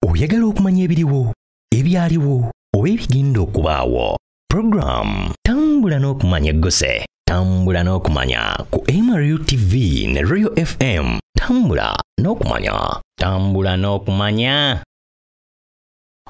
oyagala okumanya ebiriwo ebyaliwo oba ebigenda okubaawo puroguramu tambula n'okumanya eggose tambula n'okumanya ku mru tv ne royal fm tambula n'okumanya tambula n'okumanya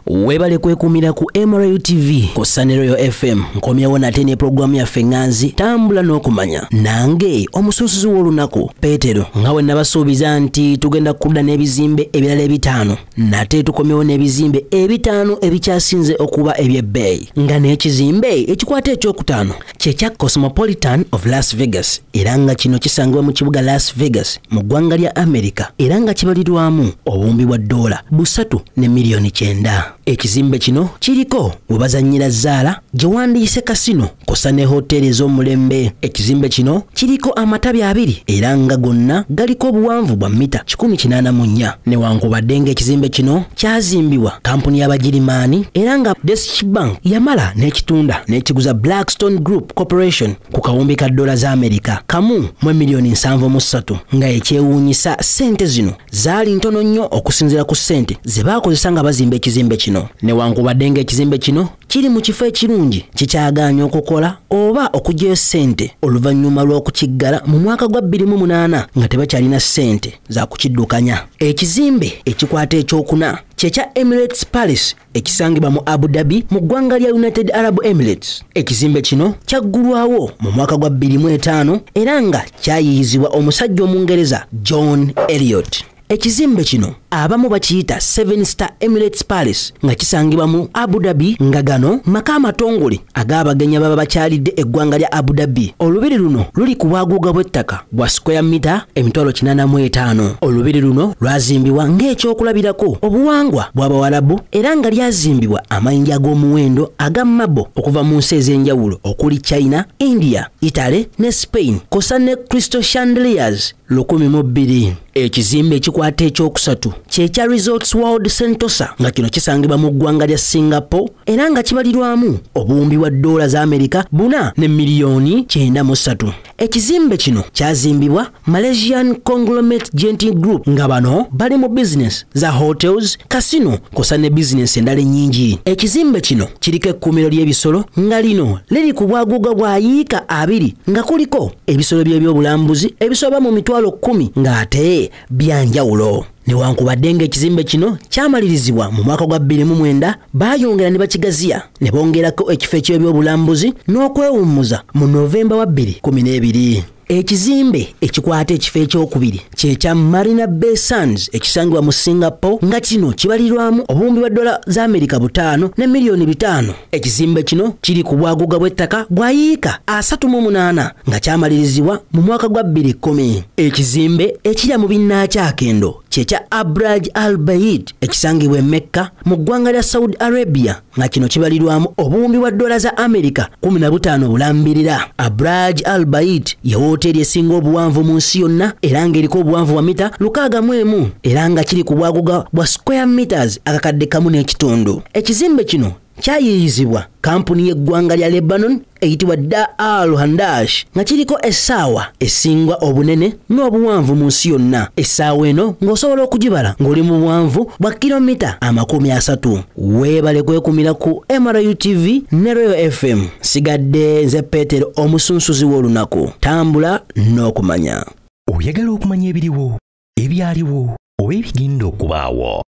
webale kwekumira ku mru tv ku saneroyo fm nkomyewo nate ne pulogulaamu yaffe ŋanzi tambula n'okumanya nange omusuusuzi w'olunaku Peetero nga bwe nabasuubiza nti tugenda kudda n'ebizimbe ebirala ebitaano nate tukomyewo n'ebizimbe ebitaano ebikyasinze okuba eby'ebbeeyi nga n'ekizimbe ekikwata ekyokutaano kye kya cosmopolitan of las vegas era nga kino kisangibwa mu kibuga las vegas mu ggwanga lya america era nga kibalirwamu obuwumbi bwa ddoola busatu ne miliyoni kyenda ekizimbe kino kiriko we bazannyira zzaala gye wandiyise kasino kusa ne hoteeri ez'omulembe ekizimbe kino kiriko amatabi abiri era nga gonna galiko obuwanvu bwa mita 184 newankubadde ng'ekizimbe kino kyazimbibwa kampuni y'abagirimaani era nga desch bank yamala n'ekitunda n'ekiguza blackstone group corporation ku kawumbi ka dola za amerika kamu mu emiliyoni 73 nga ekyewuunyisa ssente zino zaali ntono nnyo okusinziira ku ssente ze baakozesa nga bazimba ekizimbe kino newankubadde ng'ekizimbe kino kiri mu kifo ekirungi kikyagaanya okukola oba okugyayo ssente oluvannyuma lw'okukiggala mu mwaka gwa 28 nga tebakyalina ssente za kukiddukanya ekizimbe ekikwata ekyokuna kyekya emirates palace ekisangibwa mu abu dhabi mu ggwanga lya united arab emirates ekizimbe kino kyaggulwawo mu mwaka gwa 25 era nga kyayiyizibwa omusajja omungereza john eliot ekizimbe kino abamu bakiyita seven star emirates palace nga kisangibwa mu abu dhabi nga gano maka amatongole ag'abagenyi baba bakyalidde eggwanga lya abu dhabi olubiri luno luli ku bwaguuga bw'ettaka bwa square mita emitwalo 85 olubiri luno lwazimbibwa ng'ekyokulabirako obuwangwa bw'abawalabu era nga lyazimbibwa amayinja ag'omuwendo aga mabo okuva mu nsi ez'enjawulo okuli china india italy ne spain kosa ne crystal chandeliers lukumi mu bbiri ekizimbe ekikwata ekyokusatu kyekya resorts world sentosa nga kino kisangibwa mu ggwanga lya singapore era nga kibalirwamu obuwumbi bwa doola za amerika buna ne miliyoni kyenda mu ssatu ekizimbe kino kyazimbibwa malaysian conglomate genting group nga bano bali mu bizinesi za hotels kasino kosa ne bizinesi endala ennyingi ekizimbe kino kiriko ekkuumiro ly'ebisolo nga lino liri ku bwaguuga bwa yiika abiri nga kuliko ebisolo by'ebyobulambuzi ebisoba mu mitwalo kkumi ng'ate byanjawulo newankubadde ng'ekizimbe kino kyamalirizibwa mu mwaka gwa 29 baayongera ne bakigaziya ne bongerako ekifo eky'ebyobulambuzi n'okwewummuza mu novemba wa 212 ekizimbe ekikwata ekifo ekyokubiri kyekya marina bay sands ekisangibwa mu singapore nga kino kibalirwamu obuwumbi bwa dola za amerika butaano ne miliyoni bitaano Ekizimbe kino kiri ku bwaguuga bw'ettaka bwa yiika asatu mu munaana nga kyamalirizibwa mu mwaka gwa bbiri kkumi. Ekizimbe ekirya mu binnaakyakendo kye kya Abraj al Bayid ekisangibwa e Mekka mu ggwanga lya Saudi Arabia nga kino kibalirwamu obuwumbi bwa ddoola za Amerika kumi na butaano obulambirira. Abraj al Bayid ye wooteeri esinga obuwanvu mu nsi yonna era ng'eriko obuwanvu bwa mita lukaaga mu emu era nga kiri ku bwaguga bwa square meters akakadde kamu n'ekitundu. ekizimbe kino kyayiiyizibwa kampuni y'eggwanga lya lebanon eyitibwa da al handash nga kiriko essaawa esingwa obunene n'obuwanvu mu nsi yonna essaawa eno ng'osobola okugibala ng'oli mu buwanvu bwa kilomita amakumi asatu weebale kwekumira ku mru tv ne royo fm sigadde nze peetero omusunsuzi w'olunaku tambula n'okumanya oyagala okumanya ebiriwo ebyaliwo oba ebigenda okubaawo